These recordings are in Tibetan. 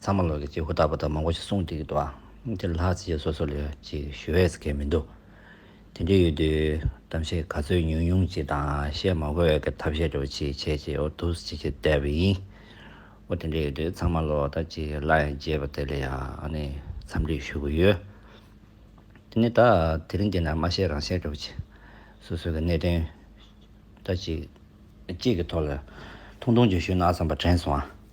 ཚང་མ་ལོ་ལེགས་ཀྱིས་ཧུར་ཐག་པོ་དང་མང་པོ་ཞིག་གསུངས་འདུག་ལ། འདིར་ལྷག་བཅས་སོ་སོ་ལས་ཅིག་ཞུ་འོས་སུ་ཁེལ་མི་འདུག། དེ་འདྲའི་ཡུལ་དུས་གཏམ་བཤད་ག་ཚོད་ཉུང་ཉུང་ཅིག་དང་བཤད་མང་པོ་འོས་ཀྱི་ཐབས་ཤེས་འདྲ་བོ་ཅིག་བྱས་རྗེས་འོ་ཐུགས་བརྩེ་ཆེ་བསྡད་པ་ཡིན། འོ་དེ་འདྲའི་ཡུལ་དུས་ཚང་མ་ལོ་ལྟར་ཅིག་སླར་ཡང་རྒྱས་པ་དེ་ལ་ཡང་འཚམས་འདྲི་ཞུ་གི་ཡོད། དེ་ནི་ད་དེ་རིང་འདི་ན་མ་བཤད་རང་བཤད་འདྲ་བོ་ཅིག། སོ་སོའི་གི་གནད་དོན་འདྲ་ཅིག་གི་ཐོག་ལ་ཐུང་ཐུང་ཅིག་ཞུས་ན་བསམ་པ་དྲན་སོང།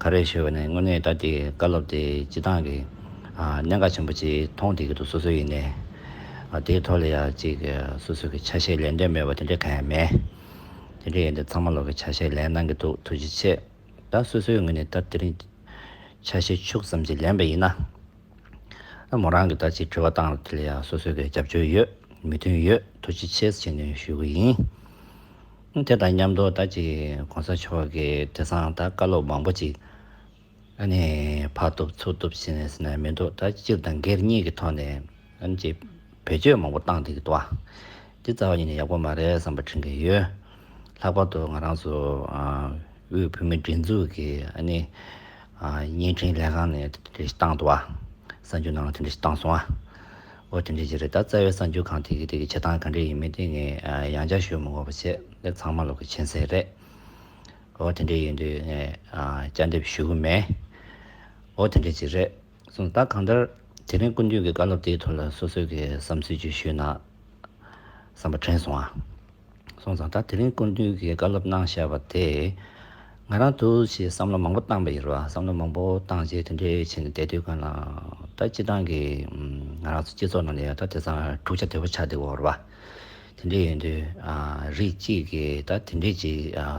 ག་རེ་ཞུ་བ་ནས་དངོས་གནས་ད་དེའི་བཀའ་སློབ་དེ་སྤྱི་བཏང་གི་གནད་འགག་ཆེན་པོ་ཅིག་མཐོང་བསྡད་ཀྱི་འདུག་སོ་སོའི་ཡིན་ནའི། དེའི་ཐོག་ལ་ཡང་ཅིག་སོ་སོ་གི་ཆ་ཤས་ལེན་འདོད་མེད་པ་དེ་འདྲ་གང་ཡང་མེད། དེ་འདྲ་ཡིན་དུས་ཚང་མ་ལོག་གི་ཆ་ཤས་ལེན་གནང་གི་འདུག་ཐུགས་རྗེ་ཆེ། ད་སོ་སོའི་ངོས་ནས་ད་དེ་རིང་ཆ་ཤས་ཕྱུགས་ཙམ་ཅིག་ལེན་པ་ཡིན་ན། མོ་རང་གི་ད་ཅིག་དྲི་བ་བཏང་དེ་ལ་ཡང་སོ་སོ་གི་རྒྱབ་སྐྱོར་ཡོད་མོས་མཐུན་ཡོད་ཐུགས་རྗེ་ཆེ་ཟེར་ནས་ཞུ་གི་ཡིན། དེ་དང་མཉམ་དུ་ད་ཅི་གོང་ས་མཆོག་གི་དྲི་བཟང་དང་བཀའ་སློབ་མང་པོ་ཅིག་ཨ་ནི་ཕར་བཏུབ་ཚུར་བཏུབ་བྱེད་ནས་ཟིན་ན་མི་འདུག་ད་སྤྱིར་བཏང་སྒེར་གཉིས་ཀྱི་ཐོག་ནས་ཨ་ནི་ཅིག་བེད་སྤྱོད་མང་པོ་བཏང་འདུག་གི་འདུག་འདི་རྩ་བ་ཉིད་ནས་ཡག་པོ་མ་རེད་བསམ་པ་དྲན་གྱི་ཡོད། ལྷག་པར་དུ་ང་རང་ཚོ་དབུས་བོད་མིའི་སྒྲིག་འཛུགས་ཀྱི་ཨ་ནི་བརྙན་འཕྲིན་ལས་ཁང་ནས་དེ་འདྲ་ཞིག་བཏང་འདུག་གསར་འགྱུར་ནང་ལ་དེ་འདྲ་ཞིག་བཏང་སོང། ཨོ་དེ་འདྲའི་རྗེས་རེད་ད་རྩ་བའི་གསར་འགྱུར་གང་དེ་གི་དེ་གི་བྱེད་སྟངས་ག་འདྲའི་ཡིན་མིན་དེ་ངས་ཡང་བསྐྱར་ཤོད་མི་དགོས་པ་བྱས་འདི་ཚང་མ་ལོག་གི་མཁྱེན་གསལ་རེད་ཨོ་དེ་འདྲའི་ཡིན་དུས་ངས་བསྐྱར་འདེབས་ཞུ་གི་མེད་ཨོ་དེ་འདྲའི་རྗེས་རེད་གསུངས་ད་གང་ལྟར་དེ་རིང་ཀུན་མཐུན་གི་བཀའ་སློབ་དེའི་ཐོག་ལ་སོ་སོས་གི་བསམ་ཚུལ་བརྗོད་ཞུས་ན་བསམ་པ་དྲན་སོང་ཨ། སོང་ཙང་ད་དེ་རིང་སྐུ་མདུན་གྱིས་བཀའ་སློབ་གནང་བཞག་པ་དེས། ང་རང་དུ་ཞེས་བསམ་བློ་མང་པོ་བཏང་བ་ཡིན་རུང་བསམ་བློ་མང་པོ་བཏང་རྗེས་དེ་འདྲའི་ཆེད་ནས་བསྡད་དུས་གང་ལགས་ད་སྤྱི་དང་གི་ང་རང་ཚོ་སྤྱི་ཚོགས་ནང་ནས་ད་དེ་སང་འཁྲུག་ཆ་དོད་པོ་ཆགས་འདུག་འོར་བ། དེ་འདྲས་ཡོད་དུས་རིགས་གཅིག་གིས་ད་དེ་འདྲས་ཅིག་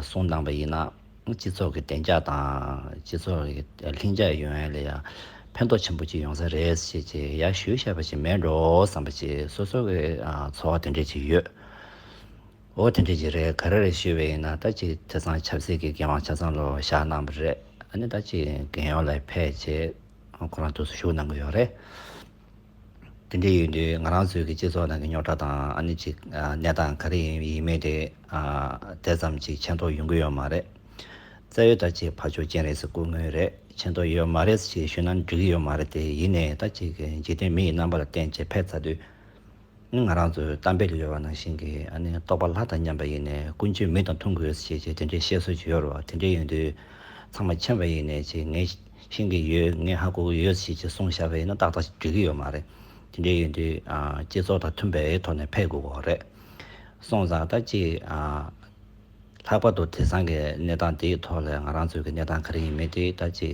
གསུངས་གནང་བ་ཡིན་ན། སྤྱི་ཚོགས་ཀྱི་བདེ་འཇགས་དང་སྤྱི་ཚོགས་ཀྱི་ལྷིང་འཇགས་ཡོང་ཡལ་ལ་ཡང་ཕན་ཐོགས་ཆེན་པོ་ཅིག་ཡོང་ས་རེད་ཅེས་ཀྱི་ཡར་ཞུ་བཤད་པ་ཞིག་མེད་འགྲོ་བསམ་པ་ཅིག་སོ་སོ་གི་ཚོར་བ་དེ་འདྲས་ཅིག་ཡོད། འོ་དེ་འདྲས་ཅིག་རེད་ག་རེ་རེད་ཞུས་པ་ཡིན་ན་ད་ཅིག་དེ་ཚང་ཆབ་སྲིད་ཀྱི་འགན་དབང་ཆ་ཚང་ལོ་བཞག་གནང་བ་རེད་ཨ་ནི་ད་ཅིག་འགན་ཡོངས་ལ་ཕེབས་ཅེས་ཁོ་རང་དུས་སུ་ཞུགས་གནང་གི་ཡོད་རེད། དེ་འདྲའི་ཡུལ་དུས་ང་རང་ཚོའི་གི་སྤྱི་ཚོགས་ནང་གི་རྙོག་དྲ་དང་ཨ་ནི་ཅིག་གནས་སྟངས་ག་རེ་ཡིན་ཡིན་མིན་དེ་དེ་ཙམ་ཅིག་མཁྱེན་རྟོགས་ཡོང་གི་ཡོད་མ་རེད། རྩ་བའི་ད་ཅིག་ཕར་ཕྱོགས་ཅན་རེད་ཟེར་དགོས་དངོས་རེད་མཁྱེན་རྟོགས་ཡོད་མ་རེད་ཅིག་ཞུས་ན་འགྲིག་གི་ཡོད་མ་རེད་དེ་ཡིན་ནས་ད་ཅིག་གི་འཇིག་རྟེན་མི་ཡི་རྣམ་པ་ལ་བརྟེན་ཅིག་ཕེབས་ཚར་དུས། ནི་ང་རང་ཚོའི་གཏམ་དཔེ་ལ་ཡོད་པ་ནང་བཞིན་གྱི་རྟོགས་པ་ལྷ་དང་མཉམ་པ་ཡིན་ནས་ཀུན་སྤྱོད་མི་དང་མཐུན་དགོས་ཞེས་ཀྱི་དེ་འདྲའི་བཤད་སྲོལ་ཅིག་ཡོད་རེད་བ་དེ་འདྲའི་ཡོད་དུས་ཚང་མ་མཁྱེན་པ་ཡིན་ནས་ཀྱི་ངས་ཤེས་ཀྱི་ཡོད་ངས་ཧ་གོ་གི་ཡོད་ཞེས་ཀྱི་གསུངས་བཞག་པ་ཡིན་ན་ཏག་ཏག་ཅིག་འགྲིག་གི་ཡོད་མ་རེད་དེ་འདྲའི་ཡོད་དུས་སྤྱི་ཚོགས་དང་མཐུན་པའི་ཐོག་ནས་ཕེབས་དགོས་གི་རེད་སོང་ཙང་ད་ཅིག་ལྷག་པར་དུ་དེ་སང་གི་གནས་སྟངས་དེའི་ཐོག་ལ་ང་རང་ཚོའི་གནས་སྟངས་ག་རེ་ཡིན་མིན་དེ་ད་ཅིག་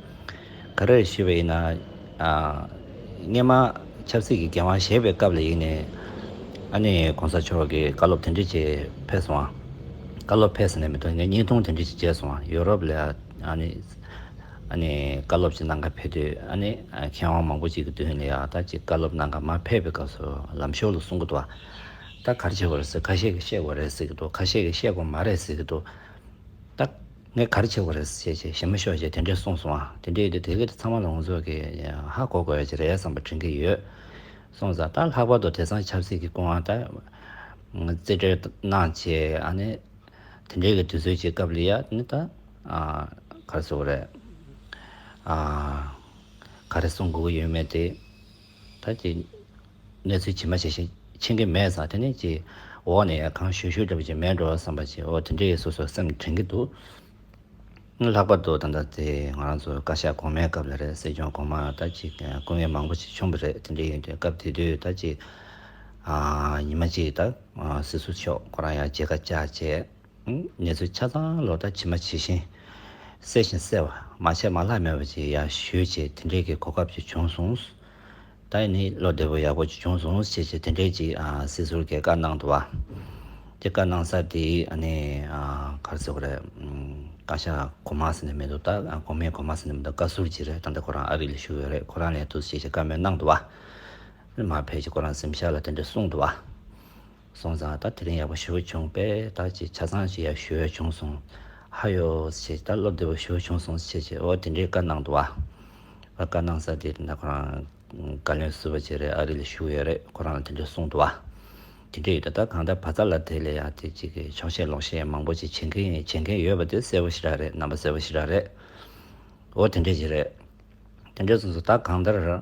ག་རེར་ཞུས་པ་ཡིན་ན། སྔན་མ་ཆབ་སྲིད་ཀྱི་འགན་དབང་བཞེས་པའི་སྐབས་ལ་ཡིན་ནས། ཨ་ནེ་གོང་ས་མཆོག་གིས་བཀའ་སློབ་དེ་འདྲའི་ཆེ་ཕེབས་སོང། བཀའ་སློབ་ཕེབས་ཟེར་ནས་མི་དོན་ངས་བརྙན་ཐུང་དེ་འདྲའི་ཆེ་མཇལ་སོང། ཡོ་རོབ་ལ་ཨ་ནེ་བཀའ་སློབ་ཅིག་གནང་སྐབས་ཕེབས་དུས་ཨ་ནེ་མཁས་དབང་མང་པོ་ཅིག་གི་མདུན་ལ་ཡག་ཐག་ཅིག་བཀའ་སློབ་གནང་སྐབས་མ་ཕེབས་པའི་སྐབས་སུ་ལམ་ཞོར་ལ་གསུང་གི་འདུག་ད་གར་བྱེད་པ་རེད་ཟེར་ཁ་ཤས་ཀྱིས་བཤད་དགོས་རེད་ཟེར་གྱི་འདུག་ཁ་ཤས་ཀྱིས་བཤད་དགོས་མ་རེད་ཟེར་གྱི་འདུག་ད། ངས་ག་རེ་བྱེད་དགོས་རེད་ཅེས་ཞེ་མི་ཞོག་ཅེས་དེ་འདྲས་གསུངས་སོང། དེ་འདྲས་ཡོད་དུས་དེ་ག་དུས་ཚང་མ་ལ་ངོ་ཚོགས་ཀྱི་ཧ་གོ་དགོས་ཀྱི་རེད་བསམ་པ་དྲན་གྱི་ཡོད། སོང་ཙང་ད་ལྷག་པར་དུ་དེ་སང་ཆབ་སྲིད་ཀྱི་སྐུ་དབང་དང། རྩིས་སྤྲོད་གནང་ཆེད་ཨ་ནི། དེ་འདྲས་ཀྱི་དུས་ཚོད་ཅིག་སྐབས་ལ་ཡ་ནི་ད། ག་རེ་བཟོ་དགོས་རེད། ག་རེ་གསུང་དགོས་ཀྱི་ཡོད་མེད་དེ། ད་ཅི། གནས་ཚུལ་ཇི་མ་ཇི་བཞིན་མཁྱེན་གི་མེད་བསམ་དེ་ནས་ཅི། འོག་ནས་གང་བཤོད་བཤོད་འདྲ་པོ་ཅིག་མེད་འགྲོ་བསམ་པ་ཅི་འོ་དེ་འདྲའི་སོ་སོ་སེམས་དྲན་གི་འདུག། ལྷག་པར་དུ་ད་ལྟ་དེ་ང་རང་ཚོ་བཀའ་ཤག་གོང་མའི་སྐབས་ལ་རེད་སྲིད་སྐྱོང་གོང་མ་ད་ཅི་སྐུ་ངལ་མང་པོ་ཞིག་ཆུང་བ་རེད་དེ་འདྲའི་ཡིན་དུས་སྐབས་དེ་དུས་ད་ཅི། ཉི་མ་གཅིག་ད་སྲིད་ཟུར་མཆོག་ཁོ་རང་ཡང་བརྗེད་ཁ་བཅག་བྱས། ངལ་རྩོལ་ཆ་ཚང་ལོ་ལྟར་ཇི་མ་ཇི་བཞིན་གསལ་བཞིན་གསལ་བ། མ་བྱས་མ་ལྷག་མེད་པ་ཅིག་ཡང་ཞུས་ཅེས་དེ་འདྲའི་གི་གོ་སྐབས་ཅིག་བྱུང་སོང། ད་ནི་བློ་བདེ་པོ་ཡག་པོ་ཅིག་བྱུང་སོང་ཞེས་ཅེས་དེ་འདྲའི་ཅིག་སྲིད་ཟུར་གྱི་བཀའ་གནང་འདུག་བ། དེ་བཀའ་གནང་ས་དེ་ནི་ག་རེ་ཟེར་གོ་རེད། བཀའ་ཤག་གོ་མ་ཟེར་ནས་མི་འདུག་ད་གོ་མེད་གོ་མ་ཟེར་ནས་མི་འདུག་བཀའ་ཟུར་ཅིག་རེད་ད་ལྟ་ཁོ་རང་ཨ་རི་ལ་ཞུགས་ཡོད་རེད་ཁོ་རང་ལས་འདུག་ཞེས་ཅེས་བཀའ་མོལ་གནང་འདུག་བ། མར་ཕེབས་ཀྱིས་ཁོ་རང་གཟིམ་ཤག་ལ་དེ་འདྲ་གསུངས་འདུག་བ། སོང་ཙང་ད་དེ་རིང་ཡག་པོ་ཞུ་གི་བྱུང་བས་ད་ཅིག་ཆ་ཚང་ཞིག་ཡག་ཞུ་འོས་བྱུང་སོང། ཧ་ཡོ། ཞེས་ད་སློབ་བདེ་པོ་ཞུ་འོས་བྱུང་སོང་ཞེས་བྱས་འོ་དེ་འདྲའི་བཀའ་གནང་འདུག་བ། བཀའ་གནང་ས་དེ་ད་ཁོ་རང་བཀའ་བློན་བསུ་བ་བྱེད་རེས་ཨ་རི་ལ་བཞུགས་ཡོད་རེས་ཁོ་རང་ལ་དེ་འདྲའི་གསུངས་འདུག་བ། དེ་འདྲའི་ཡོད་ད་ད་གང་ལྟར་བ་ཙཱ་ལ་དེ་ལས་ཡང་དེ་ཅིག་གིས་ཕྱོགས་བཤད་ལོག་བཤད་མང་པོ་ཅིག་བྱེད་མཁན་ཡིན་བྱེད་མཁན་ཡོད་པ་དེ་གསལ་པོ་ཞིག་རག་རེས་རྣམ་པ་གསལ་པོ་ཞིག་རག་རེས། འོ་དེ་འདྲའི་ཞིག་རེད། དེ་འདྲའི་གསུངས་སོང་ད་གང་ལྟར།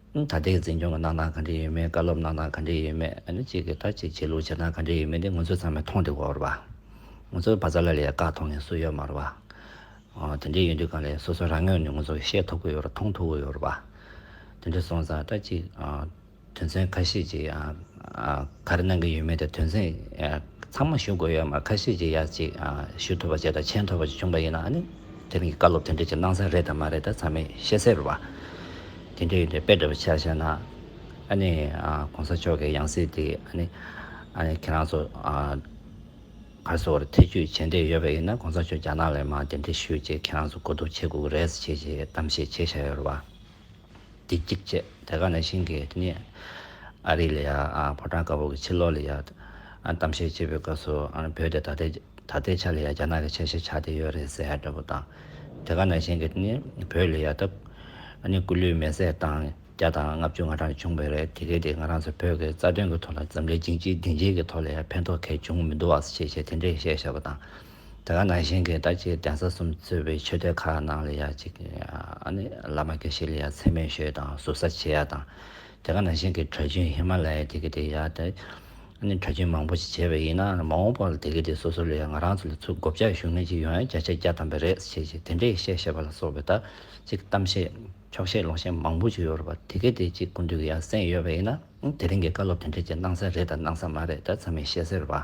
ད་ལྟའི་འཛིན་སྐྱོང་གི་གནང་སྟངས་ག་འདྲས་ཡོད་མེད་བཀའ་སློབ་གནང་སྟངས་ག་འདྲས་ཡོད་མེད་ཨ་ནི་གཅིག་གིས་ད་ཅིག་བྱེད་ལུགས་བྱེད་སྟངས་ག་འདྲས་ཡོད་མེད་འདི་ང་ཚོས་ཚང་མས་མཐོང་དུས་འོར་བ། ང་ཚོའི་བ་ཚྭ་ལ་ལས་བཀག་མཐོང་མཁན་སུ་ཡོད་མ་རུང་བ། དེ་འདྲས་ཡོད་དུས་གང་ལས་སོ་སོ་རང་ངོས་ནས་ང་ཚོས་ཤེས་ཐུབ་ཀྱི་ཡོད་རེད་མཐོང་ཐུབ་ཀྱི་ཡོད་རེད་བ། དེ་འདྲས་སོང་ཙང་ད་ཅིག་དོན་ཚན་ཁ་ཤས་ཅིག་ག་རེ་གནང་གི་ཡོད་མེད་དེ་དོན་ཚན་ཚང་མ་ཞུ་དགོས་ཡོད་མ་རེད་ཁ་ཤས་ཅིག་ཡར་ཅིག་ཞུ་ཐུབ་པ་བྱས་དང་མཆན་ཐོབ་པ་ཅིག་བྱུང་བ་ཡིན་ན་ཨ་ནི། དེ་མིན་གྱི་བཀའ་སློབ་དེ་འདྲས་ཀྱི་གནང་ས་རེད་དམ་མ་རེད་ད་ཚང་མས་ཤེས་གསལ་རེད་བ། དེ་འདྲས་ཡོད་འདྲས་དཔེ་འདྲ་བོ་ཆགས་ཤག་ན། ཨ་ནི་གོང་ས་མཆོག་གི་ཡང་སྲིད་དེ་ཨ་ནི་ཨ་ནི་ཁྱེད་རང་ཚོ་ཨ་རི་སོགས་ལ་ཐེ་ཇུས་བྱེད་འདོད་ཡོད་པ་ཡིན་ན་གོང་ས་མཆོག་རྒྱ་ནག་ལ་ཡང་མ་དེ་འདྲས་ཞུ་ཅེས་ཁྱེད་རང་ཚོ་གོ་བསྡུར་བྱེད་དགོས་ཀྱི་རེད་ཅེས་ཀྱི་གཏམ་བཤད་བྱས་ཤག་ཡོད་རེད་བ། བདེ་སྐྱིད་བཅས་དེ་ག་ནས་ཤིང་གིས་རྙེད། ཨ་རིག་ལ་ཡང་ཕོ་བྲང་དཀར་པོ་གི་ཕྱི་ལོགས་ལ་ཡང་གཏམ་བཤད་བྱེད་པའི་སྐབས་སུ་བོད་དེ་ད་ལྟའི་ཆ་ལ་ཡང་རྒྱ་ནག་གི་ཆ་ཤས་ཆགས་བསྡད་ཡོད་རེད་ཟེར་ཡག་འདྲ་པོ་དང། དེ་ག་ནས་ཤིང་གིས་རྙེད་བོད་ལ་ཡང་སྟབས། སྐུ་ལུས་མེ་བསྲེགས་བཏང་བརྒྱ་དང་ལྔ་བཅུ་ང་གྲངས་བྱུང་བས་རེད་དེ་གས་དེ་ང་རང་ཚོ་བོད་ཀྱི་རྩ་དོན་གྱི་ཐོག་ལ་འཛམ་གླིང་སྦྱིན་གཅིག་བདེན་གཅིག་གི་ཐོག་ལ་ཡང་ཕན་ཐོག་གས་བྱུང་མི་འདུག་བ་ཞེས་བྱས་དེ་འདྲའི་བཤད་བྱས་པ་དང། དེ་ག་ནང་བཞིན་གྱི་ད་ཅི་གདན་ས་གསུམ་གཙོས་པའི་ཆོས་སྡེ་ཁག་ནང་ལ་ཡང་ཅིག་བླ་མ་དགེ་བཤེས་ལ་ཡང་མཚན་སྨད་ཞུས་དང་ཟུར་ཟ་བྱེད་ཡ་དང། དེ་ག་ནང་བཞིན་གྱི་གྲྭ་རྒྱུན་ཧི་མ་ལ་ཡའི་དེ་གི་དེ་ཡ་དེ་གྲྭ་རྒྱུན་མང་པོ་ཞིག་བྱས་པ་ཡིན་ན་མ་འོངས་པ་ལ་དེ་གི་དེ་སོ་སོ་ལ་ཡང་ང་རང་ཚོ་ལ་ཚུར་སྒོ་བརྒྱག་ཞུ་ངེས་ཅིག་ཡོང་ཡ་བརྒྱ་ཆ་བརྒྱ་བཏང་པ་རེད་ཅེས་ཅིག་དེ་འདྲའི་བཤད་བཤད་པ་ལ་སོགས་པའི་ད་ཅིག་གཏམ་བཤད་འཁྱོག་བཤད་ལོག་བཤད་མང་པོ་ཅིག་ཡོད་རེད་པ་དེ་གི་དེ་ཅིག་ཀུན་འདུས་ཀྱི་ཡང་སེམས་ཡོད་པ་ཡིན་ན་དེ་རིང་གི་བཀའ་སློབ་དེ་འདྲ་ཅིག་གནང་ས་རེད་དང་གནང་ས་མ་རེད་ད་ཚང་མས་ཤེས་གསལ་བ།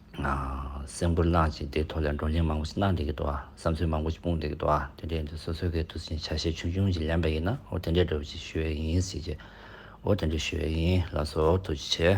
སེམས་ཁུར་གནང་ཞིང་དེའི་ཐོག་ལས་བགྲོ་གླེང་མང་པོ་ཞིག་གནང་འདོད་ཀྱི་འདུག་བསམ་ཚུལ་མང་པོ་ཞིག་སྤུངས་འདོད་ཀྱི་འདུག་དེ་འདྲའི་ཡིན་དུས་སོ་སོའི་གི་དུས་ཆེན་ཆ་ཤས་ཆུང་ཆུང་ཞིག་ལེན་པ་ཡིན་ན་འོ་དེ་འདྲའི་བགྲོ་བྱེད་ཞུ་བའི་ཡིན་ཟེར་གྱི་འོ་དེ་འདྲའི་ཞུ་བའི་ཡིན་ལགས་སོ་དུས་ཆེན།